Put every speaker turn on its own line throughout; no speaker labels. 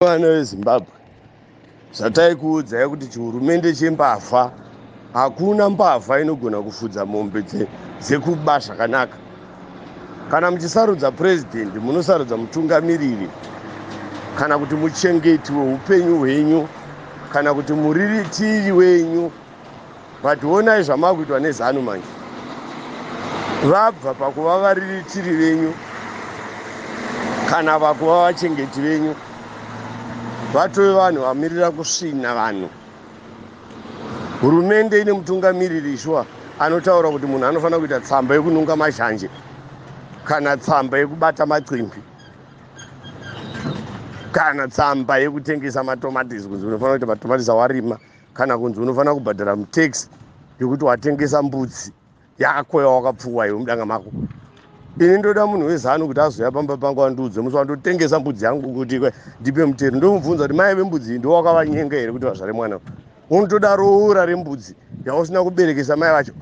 Vana veZimbabwe zvataikuudzai kuti chihurumende chembavha hakuna mbavha inogona kufudza mombe dzekuba zvakanaka kana muchisarudza purezidendi munosarudza mutungamiriri kana kuti muchengeti weupenyu hwenyu kana kuti muriritiri wenyu but onai zvamakuitwa nezanu manje vabva pakuva variritiri venyu kana vakuva vachengeti venyu vatove vanhu vamirira kusvina vanhu hurumende ine mutungamiriri ishuwa anotaura kuti munhu anofanira kuita tsamba yekununga mazhanje kana tsamba yekubata macimbi kana tsamba yekutengesa matomatisi kunzi unofanira kuita matomatisi awarima kana kunzi unofanira kubhadhara mutax yekuti watengesa mbudzi yako yawakapfuwa iwe mudanga mako ini ndoda munhu wezanu kuti azouya pamba pangu andiudze musi wandotengesa mbudzi yangu kuti ndipe mutero ndomubvunza kuti mai vembudzi iyi ndowakavanyenga here kuti vazvare mwana unotoda roora rembudzi yausina kuberekesa mai vacho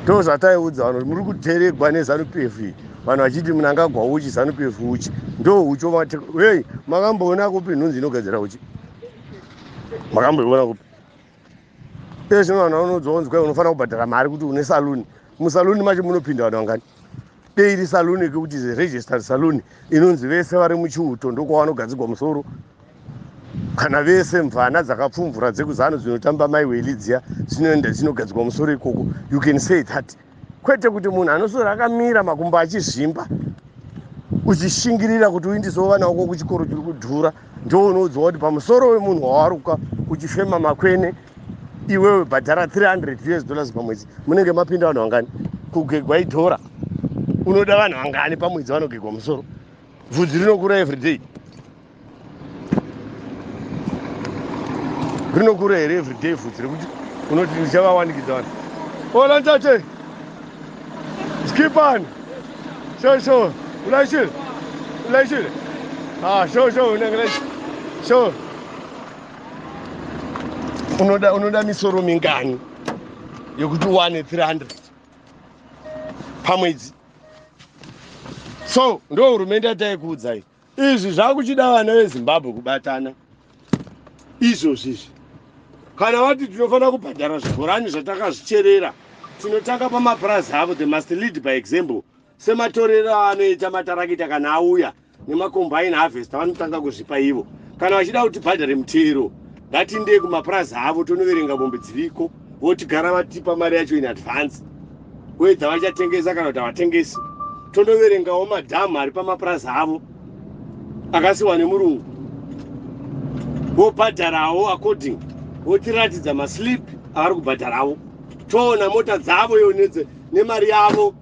ndozvataiudza vanhu muri kuteregwa nezanup f vanhu vachiti munangagwa uchi zanup f uchi ndo uchi omati hei makamboona kupi nhunzi inogadzira uchi makamboiona kupi iye zvino vanhu vanodzwa kunzi kwai unofanira kubhadhara mari kuti une saluni musaluni macho munopinda vanhu vangani dei iri saluni kekuti registered saluni inonzi vese vari muchiuto ndokwavanogadzigwa musoro kana vese mvana dzakapfumvura dzekuzanu dzinotamba mai welidziya dzinoenda dzinogadzirwa musoro ikoko you can say that kwete kuti munhu anosora akamira makumbo achizvimba uchishingirira kuti uindisewo vana wako kuchikoro chiri kudhura ndounoudzawa kuti pamusoro wemunhu wawaruka uchifema makwene iwewe bhadhara 300 us dollars pamwedzi munenge mapinda vanhu vangani kugegwa idhora unoda vanhu vangani pamwedzi vanogegwa musoro vhudzi rinokura everyday rinokura here everyday vhudzi rekuti unoti ndichavawanikidza vanhu olantate skipani sho sho ulaishile ulaishile ah, sho sho unangelaishe sho unoda unoda misoro mingani yekuti uwane 300 pamwedzi so ndo hurumende yataikuudzai izvi zvakuchida vana vezimbabwe kubatana izvozvi izvi kana vati tinofanira kubhadhara zvibhorani zvatakazvicherera tinotanga pamapurazi avo the must lead by example sematorero aanoita matarakita kana auya nemakombaini harvesta vanotanga kuzvipa ivo kana vachida kuti bhadhare mutero ngatindei kumapurazi avo tonoverenga mombe dziriko votigara vatipa mari yacho in advance wedza vachatengesa kana kuti havatengesi tondoverengawo madhamu ari pamapurazi avo akasiwa nemurungu vobhadharawo according votiratidza maslip avari kubhadharawo toona mota dzavo yo nemari yavo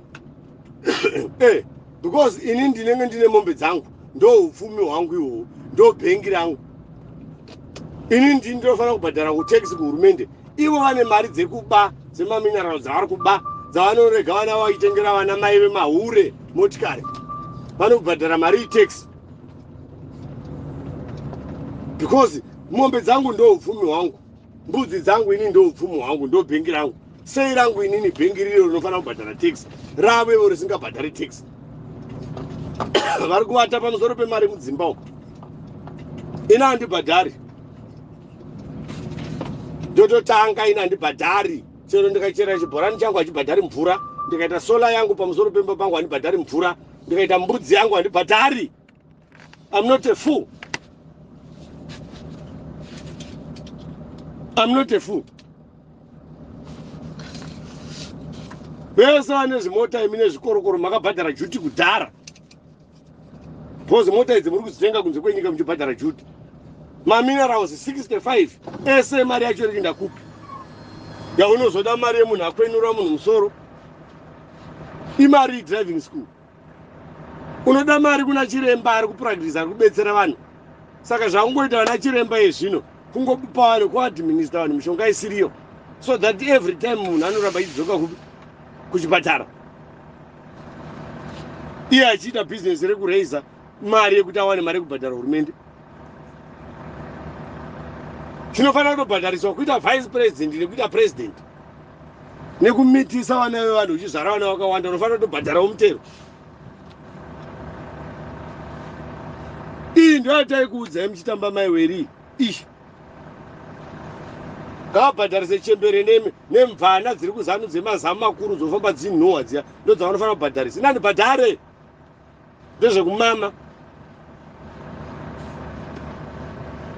eh, because ini ndinenge ndine mombe dzangu ndo upfumi hwangu ihwohwo ndo bhengi rangu ini ndini ndinofanira kubhadhara kutax kuhurumende ivo vane mari dzekuba dzemamineralo dzavari kuba dzavanorega vana vaitengera vana mai vemahure motikari vanobhadhara mari itax because mombe dzangu ndo upfumi hwangu mbudzi dzangu ini ndoupfumo hwangu ndobhengi rangu sei rangu inini bhengi riro rinofanira kubhadhara tax ravo ivo risingabhadhari tax vari kuvata pamusoro pemari mudzimba uku ini handibhadhari ndototanga ini handibhadhari chero ndikachera chibhorani changu hachibhadhari mvura ndikaita sola yangu pamusoro pemba pangu handibhadhari mvura ndikaita mbudzi yangu handibhadhari I'm not a fool. I'm not a fool. vese vane zvimota imi nezvikorokoro makabhadhara juti kudhara bcoz mota idzi muri kudzitenga kunze kwenyika muchibhadhara juti maminerals 65 ese mari yacho iri ndakupi yaunozoda mari yemunhu akwenura munhu musoro imari driving school unoda mari kuna chiremba ari kupractisa ari kubetsera vanhu saka zvakungoita vana chiremba yezvino kungopa vanhu kuadminister vanhu mishonga isiriyo so that every time munhu anoramba achidzoka kupi kuchipatara iye achiita bhizinesi rekuraiza mari yekuti awane mari yekubhadhara hurumende tinofanira kutobhadhariswa kuita vice president nekuita president nekumitisa vana vevanhu uchizvara vana vakawanda unofanira kutobhadharawo mutero iyi ndoyataikuudzai muchitamba mai weri ishi ngavabhadharise chembere nemi nemvana dziri kuzanu dzemazamu makuru dzofamba dzinhuhwa dziya ndodzavanofanira kubhadharisa inani bhadhare ndezvekumama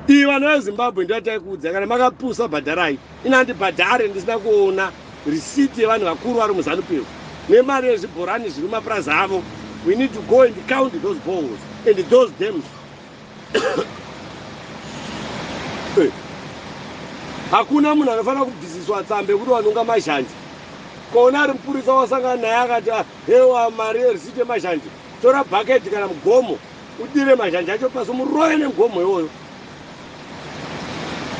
iyi vanhu vezimbabwe ndoyataikuudza kana makapusa bhadharai ini handibhadhare ndisina kuona risiti yevanhu vakuru vari muzanupiro nemari yezvibhorani zviri mapurazi avo we need to go and count those balls and those dams eh. hakuna munhu anofanira kubvisiswa tsambe yekuti wanonga mazhanje koona ari mupurisa wasangana naye akati ah, Bewa mari yereceipt yemazhanje. Tora bucket kana mugomo udire mazhanje acho pasi umuroye nemugomo iwoyo.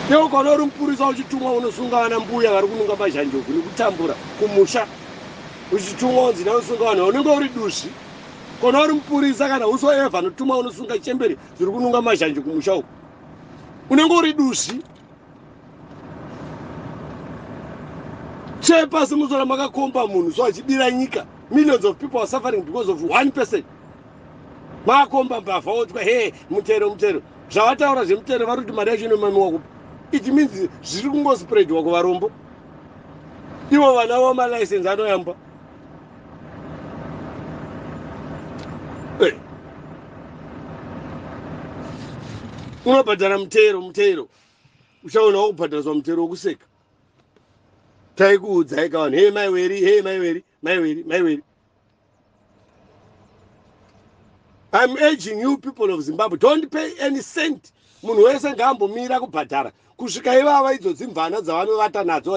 Bewa ukaona uri mupurisa uchitumwa unosunga vana mbuya vari kununga mazhanje uku nekutambura kumusha uchitumwa unzi nawe usunga vanhu unenge uri duzvi. Kona uri mupurisa kana uso eva anotumwa unosunga chembere dziri kununga mazhanje kumusha uku unenge uri duzvi. tsve pasi muzora makakomba munhu so achibira nyika millions of people are suffering because of one person maakomba mbavha otwa he mutero mutero zvavataura zvemutero vari kuti mari yacho inomamiwa kupi it means zviri kungospreadwa kuvarombo ivo vana vamalicense anoyamba unobhadhara mutero mutero uchaona wakubhadhariswa mutero wokuseka taikuudzai kavanhu hei mai weri hei mai weri mai weri mai weri I'm urging you people of Zimbabwe, don't pay any cent Munhu wese ngaambomira kubhadhara kusvika ivava idzo dzimvana dzavanovata nadzo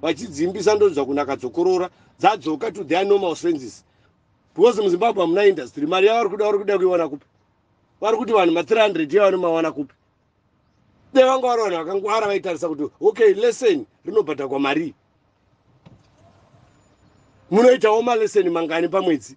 vachidziimbisa ndonzwa kunaka dzokorora dzadzoka to their normal senses because muzimbabwe hamuna industry mari yavari kuda vari kuda kuiwana kupi vari kuti vanhu ma300 iye vanomawana kupi dai vanga vari vanhu vakangwara vaitarisa kuti okay lesson rinobhadhagwa marii munoitawo malesson mangani pamwedzi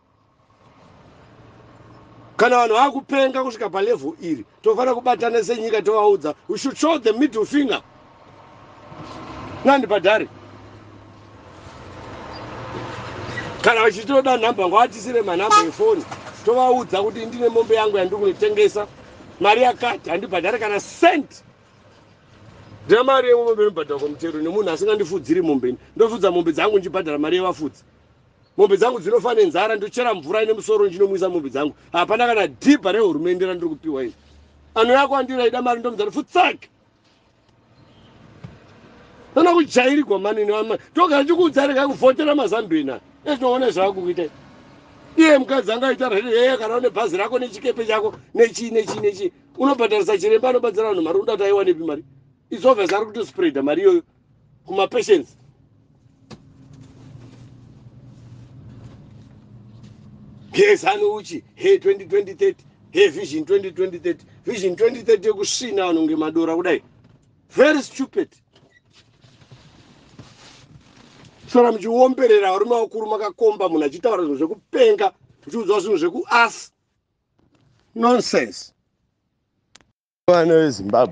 kana vanhu vava kupenga kusvika palevel iri tofanira kubatana senyika tovaudza we should show the middle finger nandi padhari kana vachitoda nhamba ngavatisire manhamba efoni tovaudza kuti ndine mombe yangu yandiri kunotengesa mari yakati handibhadhare kana cent ndina mari yemombe inobhadharwa kwamutero nemunhu asingandifudziri mombe ndofudza mombe dzangu ndichibhadhara mari yevafudzi mombe dzangu dzinofa nenzara ndochera mvura ine musoro ndinomwisa mombe dzangu hapana kana dhibha rehurumende randiri kupiwa ini ano yako andiri aida mari ndomudzati futsake tona kujairigwa mani toga ndikuudza rega kuvhotera mazambina ezvinoona zvava kukuita iye mukadzi anga aita rei yeye kana une bhazi rako nechikepe chako nechii nechii nechii unobhadharisa chiremba anobatsira vanhu mari unoda kuti aiwanepi mari izovhesa ari kutospreada mari iyoyo kumapatients gezani uchi he 2023 he vision 2023 vision 2030 yekusvina vanhu ngemadora kudai very stupid sora muchiomberera varume vakuru makakomba munhu achitaura zvinhu zvekupenga uchiudzwa zvinhu zvekuas nonsense vana vezimbabwe